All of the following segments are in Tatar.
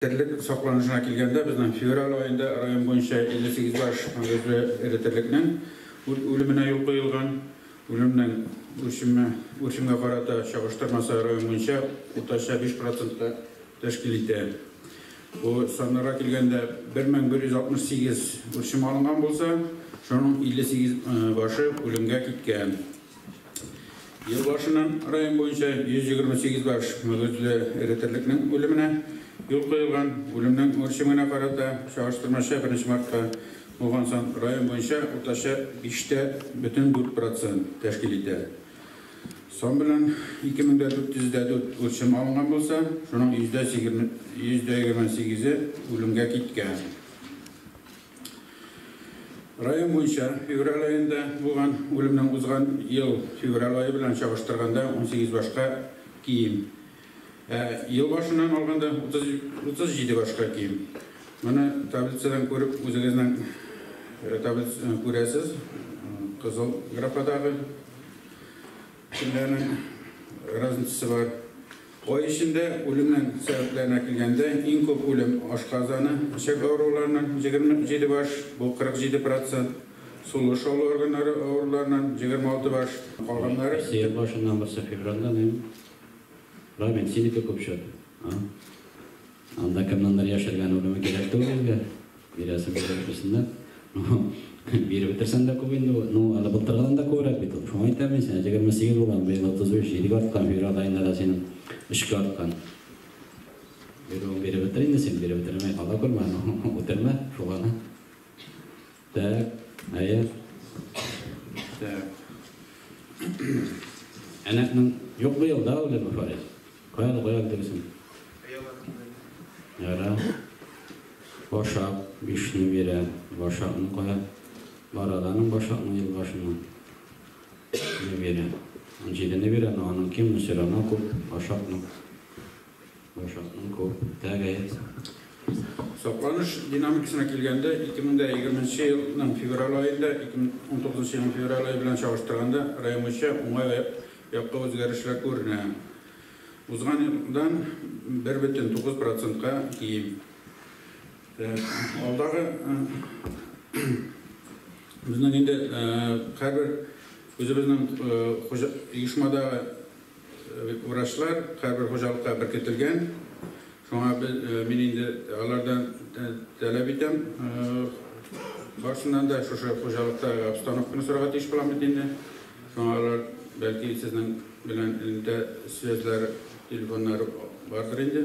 Терлек сакланышына килгәндә, безнең февраль аенда район буенча 58 баш мөгезле эре терлекнең үлеменә юл куелган. Үлемнең үрчеме, үрчемгә карата чагыштырмасы район буенча уртача 5 процентны тәшкил итә. Бу саннарга килгәндә, 1168 үрчем алынган булса, шуның 58 башы үлемгә киткән. Ел башыннан район буенча 128 баш мөгезле эретерлекнең үлеменә юл куелган. Үлемнең үрчемгенә карата чагыштырмача 1 мартка булган сан район буенча уртача 5 тә бөтен 4 процент тәшкил итә. Сан белән 2404 үрчем алынган булса, шуның йөздә 28-е үлемгә киткән. Район буенча февраль аенда булган үлемнең узган ел февраль ае белән чагыштырганда унсигез башка ким. Ә ел башыннан алганда утыз җиде башка ким. Моны таблицадан күреп үзегезнең таблиц күрәсез, кызыл графадагы. Кешеләрнең разницасы бар. Ай эчендә үлемнән сәбәпләренә килгәндә, иң күп үлем ашказаны, эчәк авыруларыннан 27 баш, бу 47 процент, сулыш алу органнары авыруларыннан 26 баш, калганнары. Сыер башыннан барса февральдән, равенсиника күп чыга. Анда кемнеңдер яшергән үлеме кирәк түгел инде, бирәсе булса бирсеннәр. Ну, биреп бетерсәң дә күп инде, ну, әле былтыргыдан да күбрәк бит ул. Шуңа әйтәм мин сиңа, 28 булган, быел 33, җидегә арткан, февраль аенда да синең өчкә арткан. Бирүен биреп бетер инде син, биреп бетермәй кала күрмә, ну, үтермә, шул гына. Так, хәер. Так. Әнәкнең юк бу елда үле бу фарис. Каян каян дөресен? Яра. Башак, бишне бирә. Башакны кая? Бараданың башакны ел башына. Не бирә. Он җидене бирә, но аның ким, но все равно күп. Башакны. Башатның күп, тәгаен сәгать. Сакланыш динамикасына килгәндә, 2020 елның февраль аен да 2019 елның февраль ае белән чагыштырганда район буенча уңай якка үзгәрешләр күренә. Узган елдан 1,9 процентка ким. Алдагы безнең инде һәрбер үзебезнең оешмадагы Врачлар һәрбер хуҗалыкка беркетелгән. Шуңа мин инде алардан таләп итәм, барсыннан да шушы хуҗалыкта обстановканы сорарга тиеш булам бит инде. Шуңа алар, бәлки, сезнең белән элемтә связьләре, телефоннары бардыр инде.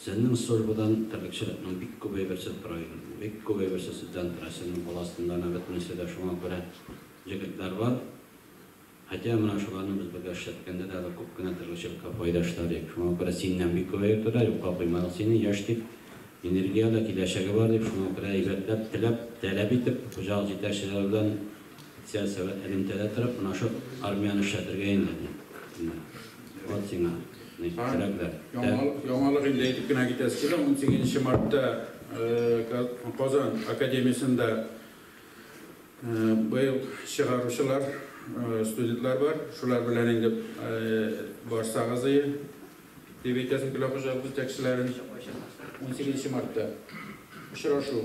Сеннең службадан терлекчелекнең бик күбе берсе тора иде. Бик күбе берсе сездән тора. Синең кул астында да бөтенесе дә шуңа күрә җегетләр бар. Хәтя менә шуларны без бергә эшләткәндә дә әле күп кенә терлекчелеккә файда эшләде ек. Шуңа күрә синнән бик күбе йөртәләр. Юкка куймадык сине, яшь дип, энергияле, киләчәге бар дип, шуңа күрә әйбәтләп, теләп, таләп итеп, хуҗалык җитәкчеләре белән Сиат сәгать элемтәдә торып, менә шул армияне эшләтергә инде, ди. Менә. Вот сиңа, ди, терәкләр. Яңалык, яңалык инде әйтеп кенә китәсе килә. Унсигез нче мартта Казан академиясендә быел чыгаручылар, студентлар бар. Шулар белән инде барсагыз ие, дип әйтәсем килә хуҗалык җитәкчеләрен. Унсигез нче мартта очрашу.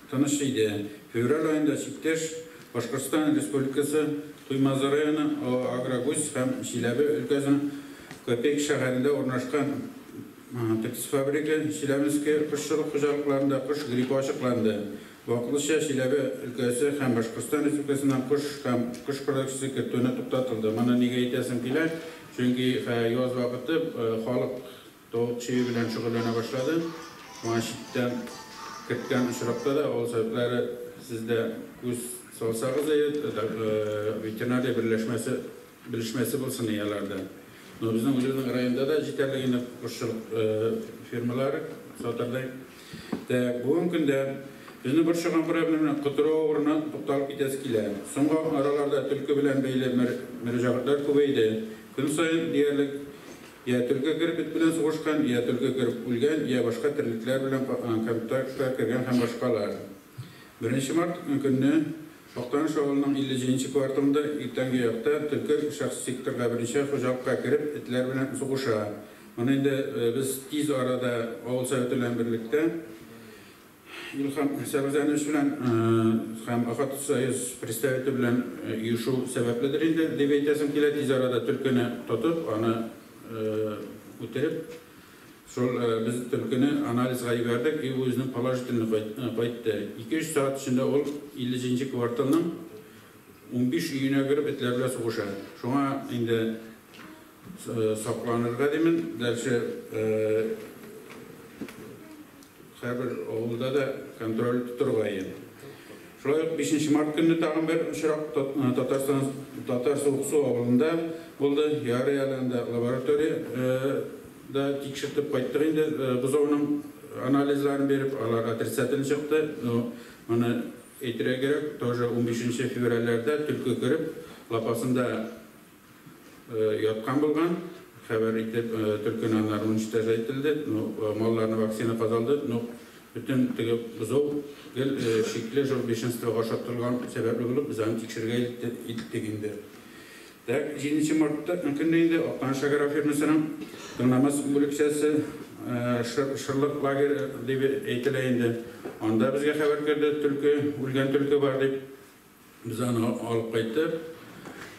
Тыныч иде. Февраль аенда чиктәш Башкортстан Республикасы Туймазы районы Агрогусь һәм Чиләбе өлкәсенең Копейка шәһәрендә урнашкан птицефабрика Челябинские кошчылык хуҗалыкларында кош гриппы ачыкланды. Вакытлыча Чиләбе өлкәсе һәм Башкортстан Республикасыннан кош һәм кош продукциясе кертүне туктатылды. Моны нигә әйтәсем килә, чөнки яз вакыты халык Тавык чөе белән шөгыльләнә башлады. Моңа читтән керткән очракта да авыл советлары сез дә күз салсагыз да ед, ветеринария берләшмәсе, белешмәсе булсын и аларда. Но безнең үзебезнең районда да җитәрлек инде кошчылык фермалары, сатырдай. Тәк, бүген көндә безне борчыган проблема белән котыру авыруына тукталып китәсе килә. Соңгы араларда төлке белән бәйле мөрәҗәгатьләр күбәйде. Көн саен диярлек. Йә төлке грипп эт белән сугышкан, йә төлке грипп үлгән, йә башка терлекләр белән контактка кергән һәм башкалар. Беренче март көнне Актаныш авылының 50 нче кварталында иртәнге якта төлке шәхси секторга, беренче хуҗалыкка кереп, этләр белән сугыша. Моны инде без тиз арада авыл советы белән берлектә Илһам сәбәләнүш белән һәм Охотсоюз представиты белән оешу сәбәпледер инде, дип әйтәсем килә, тиз арада төлкене тотып, аны үтереп, шул без төлкене анализга җибәрдек и үзенең положительный кайтты. Ике-өч сәгать эчендә ул 50 нче кварталның унбиш өенә кереп этләр белән сугыша. Шуңа инде Сакланырга димен, гәрчә һәрбер авылда да контроль тоторга ия. Шулай ук бишенче март көнне тагын бер очрак Татарстан Татар Суыксу авылында булды. Ярый әле анда лаборатория да тикшертеп кайттык инде, бозауның анализларын биреп, алар отрицательный чыкты. Ну, моны әйтергә кирәк, тоже унбишенче февральләрдә төлке кереп, лапасында яткан булган, хәбәр итеп төркин аннары уничтожать ителде, ну малларны вакцина казалды, ну бөтен теге бозау гел шикле жур бешенство га ошатырылган сәбәпле булып без аны тикшерергә илттек инде. Так, җиденче мартта көнне инде Актаныш шәкәр фирмасының тыңнамас бүлекчәсе шырлык лагере дип әйтелә инде, анда безгә хәбәр керде, төлке, үлгән төлке бар дип, Без аны алып кайттык.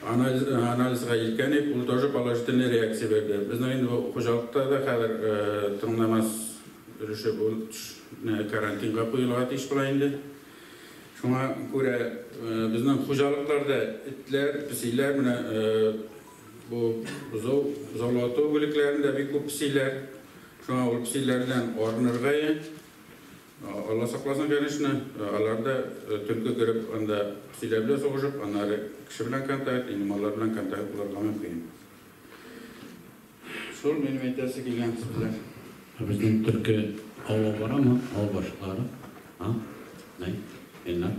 Анализга илткәник, ул тоже положительный реакция бирде. Безнең инде бу хуҗалыкта да хәзер тыңнамас өлеше бу карантинга куелырга тиеш була инде. Шуңа күрә безнең хуҗалыкларда этләр, песиләр менә бу бозау, бозаулату бүлекләрендә бик күп песиләр. Шуңа ул песиләрдән арынырга. Алла сакласын конечно, алар да төркө кереп анда силәр белән сугышып, аннары кеше белән контакт, инде маллар белән контакт булырга мөмкин. Шул минем әйтәсе килгән сүзләр. Ә безнең төрке ава барамы? Ава башылары? А? Нәй? Ильнар?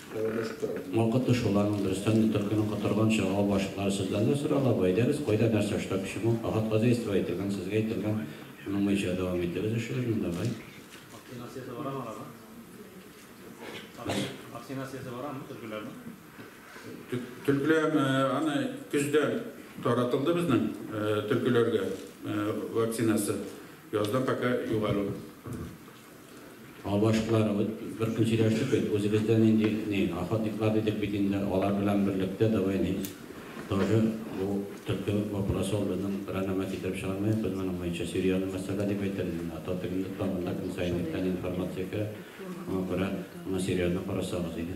Мокыты шул аның, дөрестән дә, төлкенең котырганчы ага башлыклары сездән дә соралабы, әйдәгез, кайда, нәрсә, что, почему, ахат хозяйство әйтелгән, сезгә әйтелгән, шуның буенча дәвам итегез эшегезне, давай. Вакцинациясе барамы аларның? Вакцинациясе барамы төлкеләрнең? Төлкеләр аны көздә таратылды безнең төлкеләргә вакцинасы, язда пока юк әле ул. Авашлар, бер көн сөйләштек бит, үзебездә нинди ни, охотниклар дидек бит инде, алар белән берлектә давай ни, тоже бу төлке вопросы ул безнең районнан китереп чыгармыйк без моның буенча, серьезный мәсьәлә дип әйтер идем мин, ото тегендә тора, монда көн саен иртән информация керә, шуңа күрә моны серьезный карасагыз иде.